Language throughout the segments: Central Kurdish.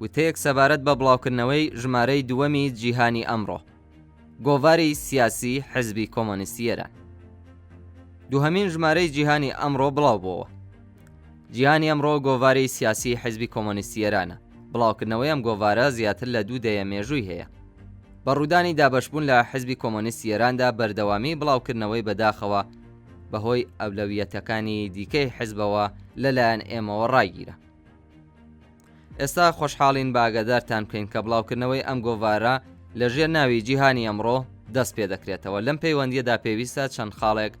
وتەیەک سەبارەت بە بڵاوکردنەوەی ژمارەی دووەمی جیهانی ئەمڕۆ گۆڤاری سیاسی حزبی کۆمۆنیستی ئێران دووهەمین ژمارەی جیهانی ئەمڕۆ بڵاوبووەوە جیهانی ئەمڕۆ گۆڤاری سیاسی حزبی کۆمۆنیستی ئێرانە بڵاوکردنەوەی ئەم گۆڤارە زیاتر لە دوو دەیە مێژووی هەیە بە ڕوودانی دابەشبوون لە حزبی کۆمۆنیستی ئێراندا بەردەوامی بڵاوکردنەوەی بەداخەوە بەهۆی ئەولەویەتەکانی دیکەی حزبەوە لەلایەن ئێمەوە ڕاگیرە ئێستا خۆشحاڵین بە ئاگادارتان بکەین کە بڵاوکردنەوەی ئەم گۆڤارە لە ژێر ناوی جیهانی ئەمڕۆ دەست پێ دەکرێتەوە لەم پەیوەندیەدا پێویستە چەند خاڵێک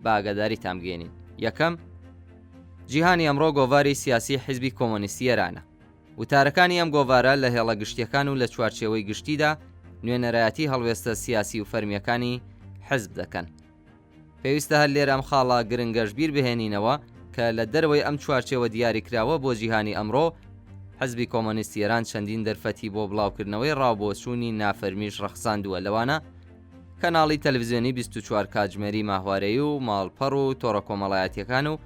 باگەداری تامگەێنین یەکەم جیهانی ئەمڕۆ گۆڤاری سیاسی حیزبی کۆمۆنیستی ئێرانە وتارەکانی ئەم گۆڤارە لە هێڵە گشتیەکان و لە چوارچێوەی گشتیدا نوێنەرایەتی هەڵوێستە سیاسی و فەرمیەکانی حەزب دەکەن پێویستە هەر لێرە ئەم خاڵە گرنگەش بیر بهێنینەوە کە لە دەرەوەی ئەم چوارچێوە دیاریکراوە بۆ جیهانی ئەمڕۆ، حزبی کۆمۆنیستی ئێران چەندین دەرفەتی بۆ بڵاوکردنەوەی ڕاوبۆچوونی نافەرمیش ڕەخساندووە لەوانە، کەناڵی تەلەفزیۆنی بیست و چوار کاتژمێری ماهوارەیی و ماڵپەڕ و تۆڕە کۆمەڵایەتییەکان و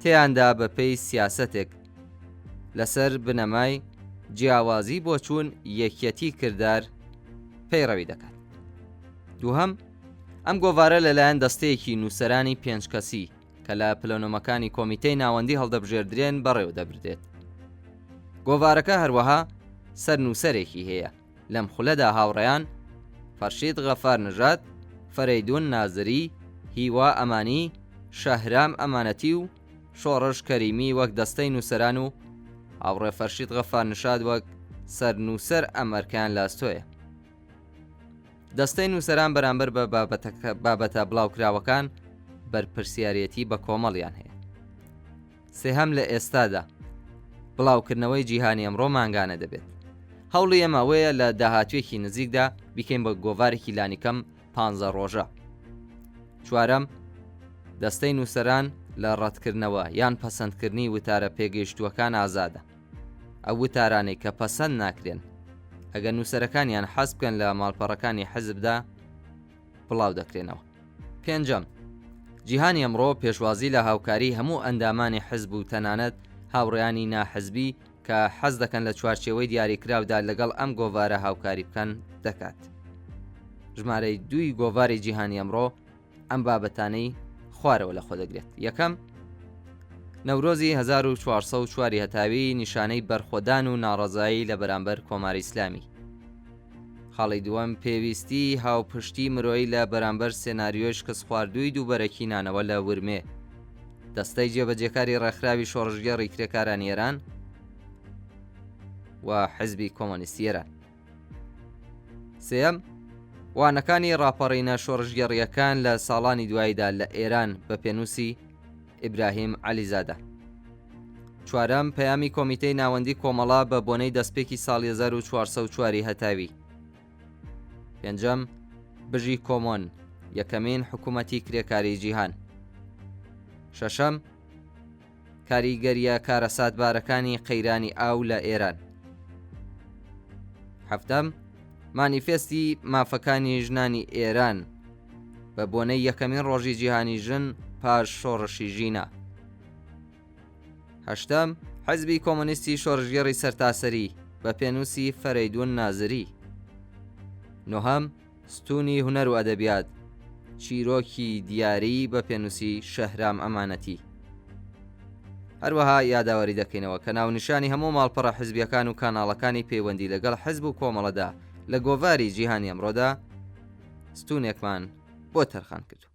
تێیاندا بە پێی سیاسەتێک لە سەر بنەمای جیاوازی بۆچوون، یەکیەتی کردار پەیڕەوی دەکات. دووهەم. ئەم گۆڤارە لەلایەن دەستەیەکی نووسەرانی پێنج کەسی کە لە پلەنۆمەکانی کۆمیتەی ناوەندی هەڵدەبژێردرێن بەڕێوە دەبردێت گۆڤارەکە هەروەها سەر نووسەرێکی هەیە لەم خولەدا هاوڕێیان فەرشید غەفار نژات فەرەیدون نازری هیوا ئەمانی شەهرام ئەمانەتی و شۆڕش کەریمی وەک دەستەی نووسەران و هاوڕێ فەرشید غەفار نشاد وەک سەر نووسەر ئەم ئەرکیان لاستۆیە دەستەی نووسەران بەرامبەر بە بابەتە بڵاوکراوەکان بەرپرسیارێتی بە کۆمەڵیان هەیە. سێهەم لە ئێستادا بڵاوکردنەوەی جیهانی ئەمڕۆ مانگانە دەبێت. هەوڵی ئێمە ئەوەیە لە داهاتوێکی نزیکدا بیکەین بە گۆڤارێکی لانیکەم پ ڕۆژە. چوارەم دەستەی نووسەران لە ڕەتکردنەوە یان پەسەندکردنی وتارە پێگەیشتووەکان ئازادە. ئەو وتارانەی کە پەسەند ناکرێن ئەگەر نووسەرەکانیان حەز بکەن لە ماڵپەڕەکانی حزبدا بڵاو دەکرێنەوە. پێنجەم، جیهانی ئەمڕۆ پێشوازی لە هاوکاری هەموو ئەندامانی حزب و تەنانەت هاوڕێیانی ناحزبی کە حەز دەکەن لە چوارچێوەی دیاریکراودا لەگەڵ ئەم گۆڤارە هاوکاری بکەن، دەکات. ژمارەی دووی گۆڤاری جیهانی ئەمڕۆ، ئەم بابەتانەی خوارەوە لە خۆ دەگرێت یەکەم نەورۆزی 1404 هەتاوی نیشانەی بەرخۆدان و ناڕزایی لە بەرامبەر کۆماری ئیسلامی خاڵی دووەم پێویستی هاوپشتی مرۆیی لە بەرامبەر سێناریۆش کەس خواردووی دووبەرەکی نانەوە لە ورمێ دەستەی جێبەجێکاری ڕێکخراوی شۆڕژگەڕی کرێکارانی ئێران و حزبی کۆمۆنیستی ئێران سێیەم، وانەکانی ڕاپەڕینە شۆڕشگێڕییەکان لە ساڵانی دواییدا لە ئێران، بە پێنووسی، ئیبراهیم عەلیزادە. چوارەم، پەیامی کۆمیتەی ناوەندی کۆمەڵە بە بۆنەی دەستپێکی ساڵی هەزار و چوار سەد و چوار ی هەتاوی. پێنجەم، بژی کۆمۆن، یەکەمین حکوومەتی کرێکاریی جیهان. شەشەم، کاریگەرییە کارەساتبارەکانی قەیرانی ئاو لە ئێران هەفتەم، مانیفێستی مافەکانی ژنانی ئێران بە بۆنەی یەکەمین ڕۆژی جیهانی ژن پاش شۆڕشی ژینا هەشتەم، حزبی کۆمۆنیستی شۆرشگێڕی سەرتاسەری بە پێنووسی فەرەیدوون نازری نۆهەم، ستوونی هونەر و ئەدەبیات، چیرۆکی دیاری بە پێنووسی شەهرام ئەمانەتی. هەروەها یاداوەری دەکەینەوە کە ناونیشانی هەموو ماڵپەڕە حزبیەکان و کاناڵەکانی پەیوەندی لەگەڵ حزب و کۆمەڵەدا لە گۆڤاری جیهانی ئەمڕۆدا ستوونێکمان بۆ تەرخان کردووە.